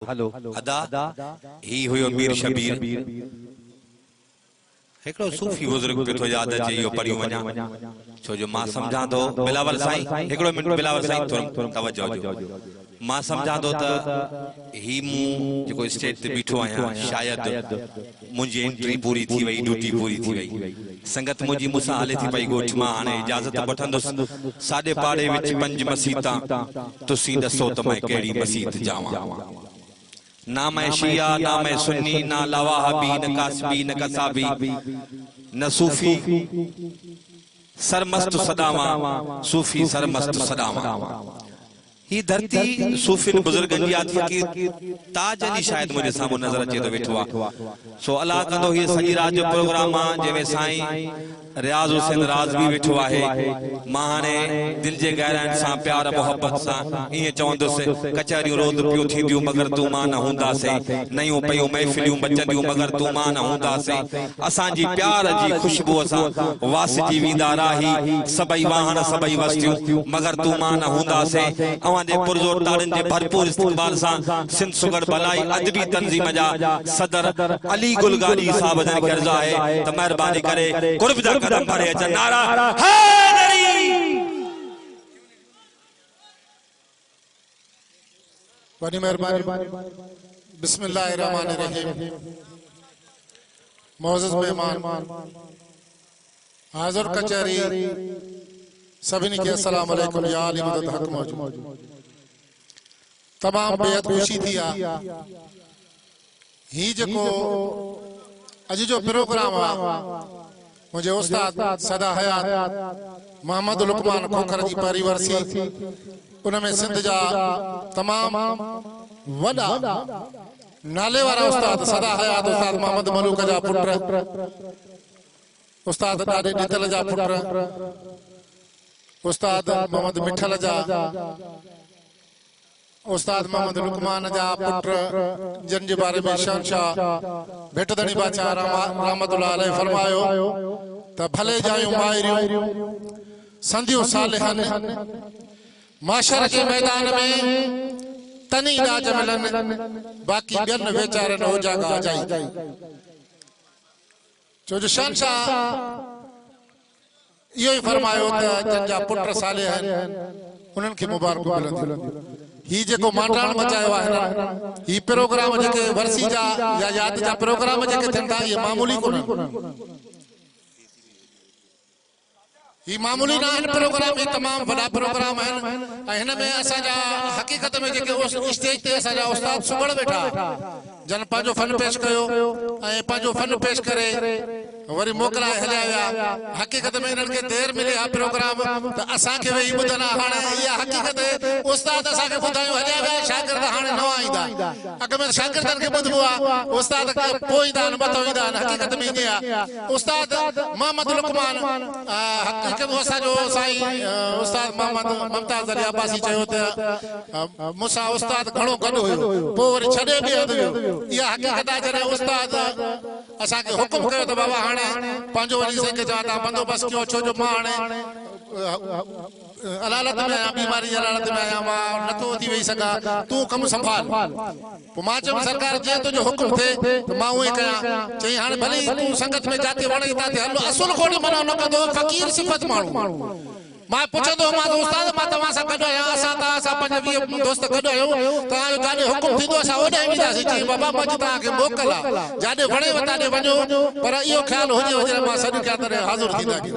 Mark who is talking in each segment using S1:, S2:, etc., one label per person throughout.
S1: ادا هي هيو مير شبير. هڪڙو صوفي بزرگ پيو ٿو ياد اچي اهو پڙهيون وڃان ڇو جو مان سمجهان ٿو بلاول سائين هڪڙو منٽ بلاول سائين ٿورو توجه ڏيو مان سمجهان ٿو ته هي مون جيڪو اسٽيج تي بيٺو آهيان شايد منهنجي انٽري پوري ٿي وئي ڊيوٽي پوري ٿي وئي سنگت منهنجي مون سان هلي ٿي پئي ڳوٺ مان هاڻي اجازت وٺندس ساڄي پاڙي وچ پنج مسيتان تسين ڏسو ته مئن ڪهڙي مسيت جاوان نه مئن شيعا نه مئن سني نه لاواهبي نه ڪاسبي نه قصابي نه صوفي سرمست سڏاوان صوفي سرمست سڏاوان. هي ڌرتي صوفين بزرگن جي آهي فقير تاج علي شايد منهنجي سامهون نظر اچي ٿو ويٺو آهي سو الله ڪندو هيء سڄي رات جو پروگرام آهي جنهن ۾ سائين رياض حسين رازوي ويٺو آهي مان هاڻي دل جي گهراين سان پيار محبت سان ائين چوندس ڪچهريون روز پيون ٿينديون مگر تون مان نه هوندا سين نيون پيون محفليون مچنديون مگر تون مان نه هوندا سين اسان جي پيار جي خوشبوء سان واسجي ويندا راهي، سڀئي واهڻ، سڀئي وستيون، مگر تون مان نه هونداسين. اوهان جي پرزور تاڙين جي ڀرپور استقبال سان سنڌ سگهڙ ڀلائي ادبي تنظيم جا صدر علي گل گاڏهي صاحب جن کي عرض آهي ته مهرباني ڪري قرب جا قدم ڀري اچن. نعره حيدري!
S2: وڏي مهرباني بسم الله الرحمن الرحيم معزز مهمان حاضر کچاري سبني کي السلام عليكم يا علي مدد حق موجود تمام بيت خوشي ٿي آ هي جيڪو اڄ جو پروگرام آ منهنجي استاد سدا حيات محمد لقمان کوکر جي پهرين ورسي ان ۾ سنڌ جا تمام وڏا نالي وارا استاد سدا حيات استاد محمد ملوڪ جا پٽ استاد ڏاڏي ڏتل جا پٽ استاد محمد مٺل جا استاد محمد لقمان جا پٽ جن جي باري ۾ شهنشاهه ڀٽ ڌڻي باچا رحمت الله عليه فرمايو ته ڀلي جايون مائريون سنديون صالحن معاشر جي ميدان ۾ تني ڏاج ملن باقي ٻين ويچارن اوجاڳا جائي ڇو جو شهنشاهه اهو ئي فرمايو ته جن جا پٽ صالح آهن، انهن کي مبارڪون ملنديون. هي جيڪو مانڊراڻ مچايو آهي نه، هي پروگرام جيڪي ورسي جا يا ياد جا پروگرام جيڪي ٿين ٿا، اهي معمولي ڪونهن. هي معمولي ناهن پروگرام هي تمام وڏا پروگرام آهن ۽ هن ۾ اسان جا حقيقت ۾ جيڪي اسٽيج تي اسان جا استاد سگهڙ ويٺا جن پنهنجو فن پيش ڪيو ۽ پنهنجو فن پيش ڪري وري موڪلائي هليا ويا حقيقت ۾ انهن کي دير ملي ها پروگرام ته اسان کي ويهي ٻڌن ها هاڻي اها حقيقت استاد اسان کي ٻڌايو هليا ويا شاگرد هاڻي نوان ايندا اڳ ۾ شاگردن کي ٻڌبو ها استاد پوء ايندا آهن مٿو ايندا آهن حقيقت ۾ ائين آهي استاد محمد لقمان حقيقت ۾ اسان جو سائين استاد محمد ممتاز علي عباسي چيو ته مون سان استاد گهڻو گڏ هيو پوء وري ڇڏي به هنڌ ويو اها حقيقت آهي جڏهن استاد اسان کي حڪم ڪيو ته بابا هاڻي پنهنجو وڃي سائين کي چوان ته بندوبست ڪيو ڇو جو مان هاڻي علالت ۾ آهيان، بيماري جي علالت ۾ آهيان، مان نٿو اٿي ويهي سگهان، تون ڪم سنڀال. پوء مان چيم، سرڪار جيئن تنهنجو حڪم ٿئي ته مان ايئن ڪيان. چيائين، هاڻي ڀلي ئي تون سنگت ۾ جاتي وڻئي تاتي هل، اصل گهوٽ منع نه ڪندو هو، فقير صفت ماڻهو هو. مان پڇندو هومانس، استاد مان توهان سان گڏ آهيان، اسان توهان سان پنج ويهه دوست گڏ آهيون، توهان جو جاڏي حڪم ٿيندو اسان اوڏانهن وينداسين. چيائين، بابا منهنجي توهان کي موڪل آهي، جاڏي وڻيو تاڏي وڃو، پر اهو خيال هجيو جڏهن مان سڏ ڪيان تڏهن حاضر ٿيندا ڪيو.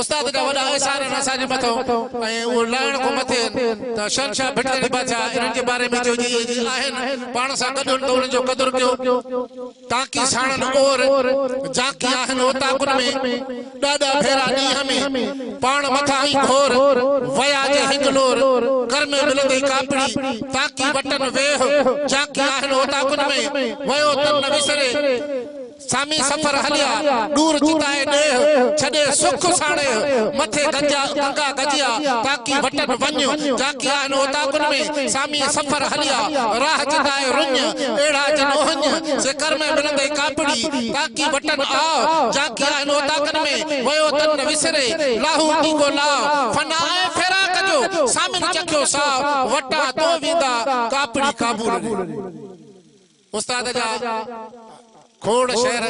S2: استاد جا وڏا احسان آهن اسان جي مٿو ۽ اهو لاهڻ کان مٿي آهن ته شهنشاهه ڀٽ ڪري بادشاهه انهن جي باري ۾ چيو جي اهي جي آهن پاڻ سان گڏ هن ته انهن جو قدر ڪيو تاڪي ساڻن اور جاڪي آهن اوطاقن ۾ ڏاڏا ڀيرا ڏينهن ۾ پاڻ مٿان ائين گهور ويا جي هڪ لور ڪر ۾ ملندي ڪاپڙي تاڪي وٽن ويهه جاڪي آهن اوطاقن ۾ ويو تن نه وسري سامي سفر هليا، ڏور جدائي ڏيهه، ڇڏي سک ساڻيهه، مٿي گنجا گنگا گجيا، تاڪي وٽن وڃ، جاڪي آهن اوطاقن ۾، سامي سفر هليا، راهه جدائي رڃ، اهڙا جن اهڃ، سي ڪر ۾ ملندئي ڪاپڙي، تاڪي وٽن آء، جاڪي آهن اوطاقن ۾، ويو تن نه وسري، لاهو ڊيگو لاء، فنا ۽ فراق جو، سامين چکيو ساء، وٽان تو ويندا، ڪاپڙي ڪابول ڙي. استاد جا کوڙ شعر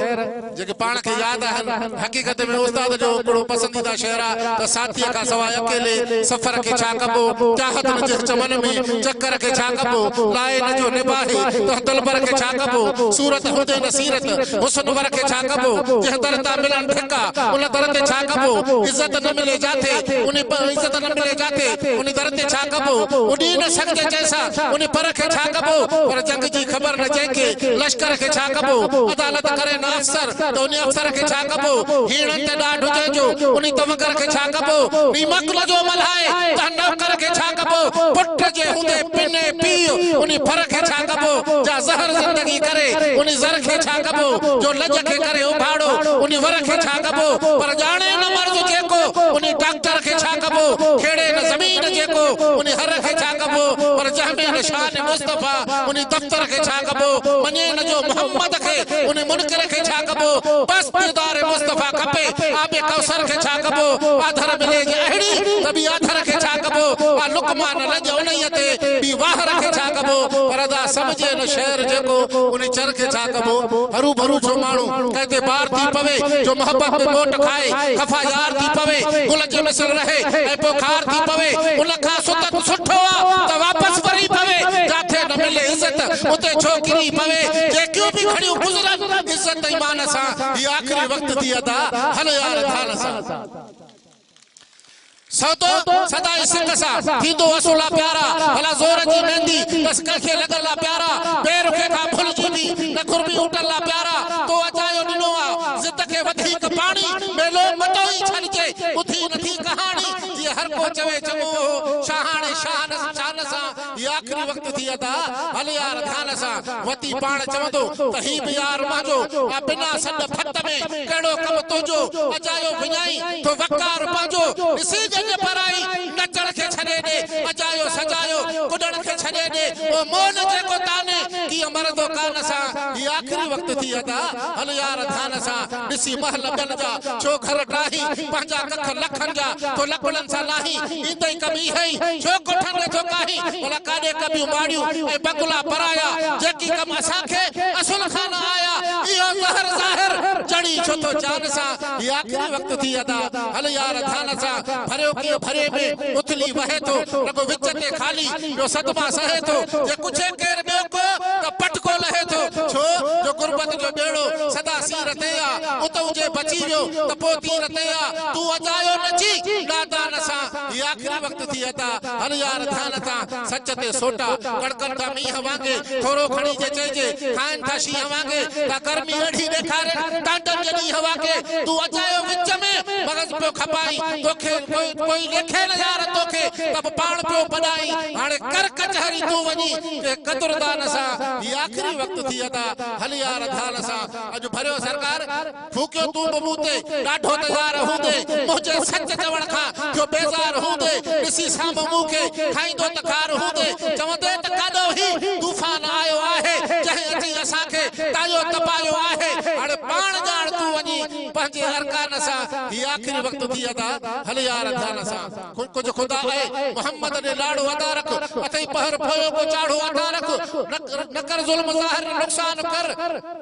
S2: جيڪي پاڻ کي ياد آهن، حقيقت ۾ استاد جو هڪڙو پسنديده شعر آ ته ساٿيء کان سواء اڪيلي سفر کي ڇا ڪبو، چاهت نه جس چمن ۾ چڪر کي ڇا ڪبو، لائي نه جو نباهي تنهن دلبر کي ڇا ڪبو، صورت هوندي نه سيرت حسن ور کي ڇا ڪبو، جنهن در تان ملن ڌڪا ان در تي ڇا ڪبو، عزت نه ملي جاٿي انهي عزت نه ملي جاٿي انهي در تي ڇا ڪبو، اڏي نه سگهجي جنهن سان ان پر کي ڇا ڪبو؟ پر جنگ جي خبر نه جنهن کي، لشڪر کي ڇا ڪبو؟ عدالت ڪري نه افسر، ته ان افسر کي ڇا ڪبو؟ هيڻن تي ڏاڍ هجي جو، ان توڪر کي ڇا ڪبو؟ ني مڪل جو ملهائي، تنهن نوڪر کي ڇا ڪبو؟ پٽ جي هوندي پني پيء، ان ڦر کي ڇا ڪبو؟ جا زهر زندگي ڪري، ان زر کي ڇا ڪبو؟ جو لڄ کي ڪري اڀاڙو، ان ور کي ڇا ڪبو؟ پر ڄاڻي نه مرض جيڪو، ان ڊاڪٽر کي ڇا ڪبو؟ کيڙي نه زمين جيڪو، ان هر کي ڇا. ڪبو، پر جنهن ۾ نه شان مصطفيٰ، انهي دفتر کي ڇا ڪبو، مڃي نه جو محمد کي، انهي منڪر کي ڇا ڪبو، بس ديدار مصطفيٰ کپي، آب ڪوثر کي ڇا ڪبو، آڌر ملي جي اهڙي، ته ٻي آڌر کي ڇا ڪبو، آ لقمان لڄ انهيء تي، ٻي واهر کي ڇا ڪبو، پر ادا سمجهي نه شعر جيڪو، انهي چر کي ڇا. ڪبو، هروڀرو جو ماڻهو ڪنهن تي بار ٿي پوي، جو محبت ۾ موٽ کائي، خفا يار ٿي پوي، گل جي مثل رهي ۽ پوء خار ٿي پوي، ان کان سدت سٺو آ ته واپس وري پوي، جاٿي نه ملي عزت، اتي ڇو ڪري پوي، جيڪيون به گهڙيون گذرن عزت ايمان سان، هي آخري وقت ٿي ادا، هل يار ڌان سان. سوتو سدا عشق سان ٿيندو اسو لا پيارا ڀلا زور جي ميندي بس ڪنهن کي لڳل لا پيارا بي رخي کان ڀلجي به نه گهربي اوٽن لا پيارا تو اجايو ڏنو آ ضد کي وڌيڪ پاڻي ميلو متو ئي ڇڏجي ٻڌي نٿي ڪهاڻي جيئن هر ڪو چوي چڱو هو شاهاڻي شان سان هي آخري وقت ٿي ادا، هل يار ڌيان سان وتي پاڻ چوندو ته هي به يار منهنجو آ بنا سڏ ڀت ۾ ڪهڙو ڪم تنهنجو اجايو وڃائين ٿو وقار پنهنجو ڏسي ڄڃ پرائي نچڻ کي ڇڏي ڏي اجايو سجايو ڪڏڻ کي ڇڏي ڏي او مئل جيڪو تاني ڪيئن مرندو ڪان سان هي آخري وقت ٿي ادا، هل يار ڌيان سان ڏسي مهل ٻين جا ڇو گهر ٽاهين پنهنجا ڪک لکن جا ٿو لڪڙن سان لاهين هي تائين ڪبي هئي، ڇو ڪوٺن نه ٿو ڪاهي، ڀلا ڪاڏي ڪبيون ماڙيون ۽ بگلا پرايا، جيڪي ڪم اسان کي اسل خان آيا، اهو زهر ظاهر چڻي ڇو ٿو جان سان، هي آخري وقت ٿي ادا، هل يار ڌان سان، ڀريو ڪيئن ڀري ۾ اٿلي وهي ٿو، رڳو وچ تي خالي، ٻيو صدما سهي ٿو، جي ڪڇي ڪير ٻيو ڪو ته پٽڪو لهي ٿو، ڇو جو غربت جو ٻيڙو سدا سير تي آ، اتئون جي بچي ويو ته پوء تير تي آ. تون ادا يو نچي ڏادا نسان هي آخري وقت ٿي ادا هل يار ڌيان تان سچ تي سوٽا ڪڙڪن ٿا مينهن وانگي ٿورو کڻي جي چئجي کائن ٿا شينهن وانگي ته گرمي اهڙي ڏيکارين ٽانڊن جي ڏينهن وانگي تون ادا يو وچ ۾ مغز پيو کپائين توکي ڪوئي ليکي نه يار توکي ته به پاڻ پيو ڀڏائين هاڻي ڪر ڪچهري تون وڃي ڪنهن قدردا نسان هي آخري وقت ٿي ادا هل يار ڌيان سان اڄ ڀريو سرڪار. ڦوڪيو تون به مون تي ڏاڍو ته يار هوندي منهنجي سچ چوڻ کان ٿيو بيزار هوندي ڏسي سامهون مون کي کائيندو ته خار هوندي چوندي ته ڪاڏو هي طوفان آيو آهي جنهن اچي اسان کي ٽايو تپايو آهي هاڻي پاڻ ڄاڻ تون وڃي پنهنجي ارڪان سان هي آخري وقت ٿي ادا هل يار ڌيان سان ڪجهه خدا اي محمد ڏي لاڙو ادا رک اٿئي پهر پويو ڪو چاڙهو ادا رک نه ڪر ظلم ظاهر نه نقصان ڪر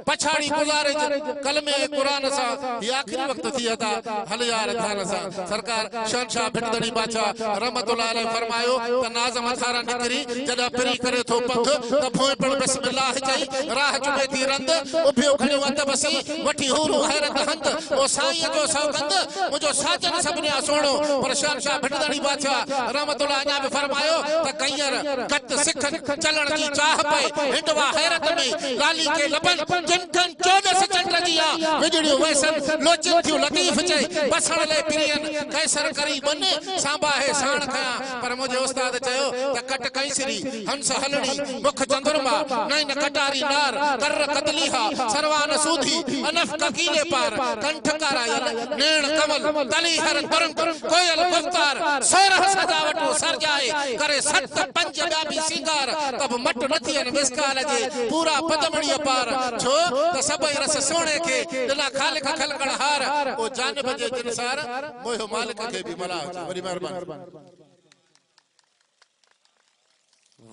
S2: پڇاڙي گذارج ڪلمي ۽ قرآن سان هي آخري وقت ٿي ادا هل يار ڌيان سان سرڪار شهنشاهه ڀٽدڙي بادشاهه رحمت الله عليه فرمايو ته ناظم اڌارا نڪري جڏهن پرين ڪري ٿو پنڌ ته ڀونء پڻ بسم الله چئي راهه چمي ٿي رند اڀيو کڻيو ادب سين وٺي حورون حيرت هنڌ او سائينء جو سوگند منهنجو ساجن سڀنيان سهڻو پر شهنشاهه ڀٽدڙي بادشاهه رحمت الله اڃا به فرمايو ته ڪئينر گت سکن کي چلڻ جي چاهه پئي، هنڊوا حيرت ۾ لالي کي لڀن، جن کن چوڏس چنڊ جيا، وڄڙيون ويسن، لوچين ٿيون لطيف چئي، بسڻ لئي پرين، قيصر ڪري ٻن، سانباهي ساڻ کنيان، پر منهنجي استاد چيو ته ڪٽ ڪئيسري، هنس هلڻي، مک چندرما، نئن ڪٽاري نار، ڪر ڪدليها، سروان سوڌي، انف ڪڪيلي پار، ڪنٺ ڪارايل، نيڻ ڪمل، تلي هر ترنگ، ڪوئل گفتار، سورهه سجاوٽون سرجائي، ڪري سٽ پنج ٻيا به سينگار، ته به مٽ نه ٿئين مثقال جي، پورا پدمڙيء پار، ڇو ته سڀئي رس سهڻي کي، ڏنا خالق خلقڻ هار، پوء جانب جي جن سار، موهيو مالڪ کي به ملاح جي، وڏي مهرباني.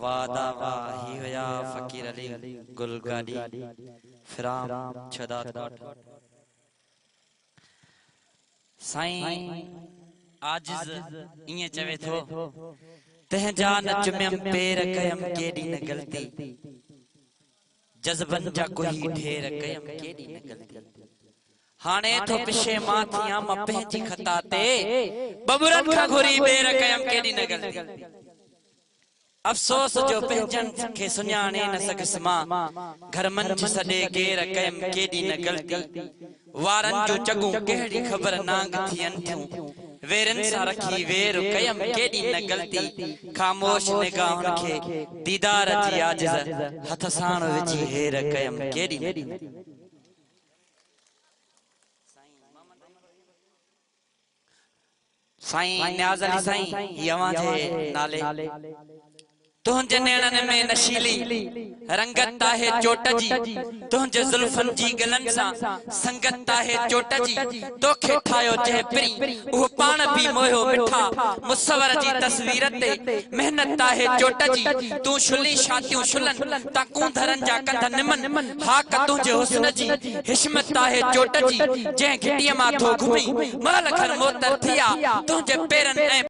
S3: واه دا واه هي هيا فقير علي گل گاڏي فرام ڇهداد ڳوٺ. سائين عاجز ائين چوي ٿو، تنهن جا نه چميم پير ڪيم ڪيڏي نه غلطي، جذبن جا ڪوهي ڍير ڪيم ڪيڏي نه غلطي، هاڻي ٿو پشيمان ٿيان مان پنهنجي خطا تي، ٻٻرن کان گهري ٻير ڪيم ڪيڏي نه غلطي. افسوس جو پنهنجن کي سڃاڻي نه سگهيس مان گهر منجهه سڏي ڪير ڪيم ڪيڏي نه غلطي وارن جون چڳون ڪهڙي خبر نانگ ٿين ٿيون ويرين سان رکي وير ڪيم ڪيڏي نه غلطي خاموش نگاهن کي ديدار جي عاجز هٿ ساڻ وجهي هير ڪيم ڪيڏي نه. سائين نياز علي سائين هي اوهان جي نالي تنهنجي نيڻن ۾ نشيلي رنگت آهي چوٽ جي تنهنجي زلفن جي گلن سان سنگت آهي چوٽ جي توکي ٺاهيو جنهن پرين اهو پاڻ به موهيو مٺا مصور جي تصوير تي محنت آهي چوٽ جي تون شلي شاتيون شلن تان ڪونڌرن جا ڪنڌ نمن هاڪ تنهنجي حسن جي حشمت تاهي چوٽ جي، جنهن گهٽيء مان ٿو گهمين، مئل کن معطر ٿي آ، تنهنجي پيرن ۽.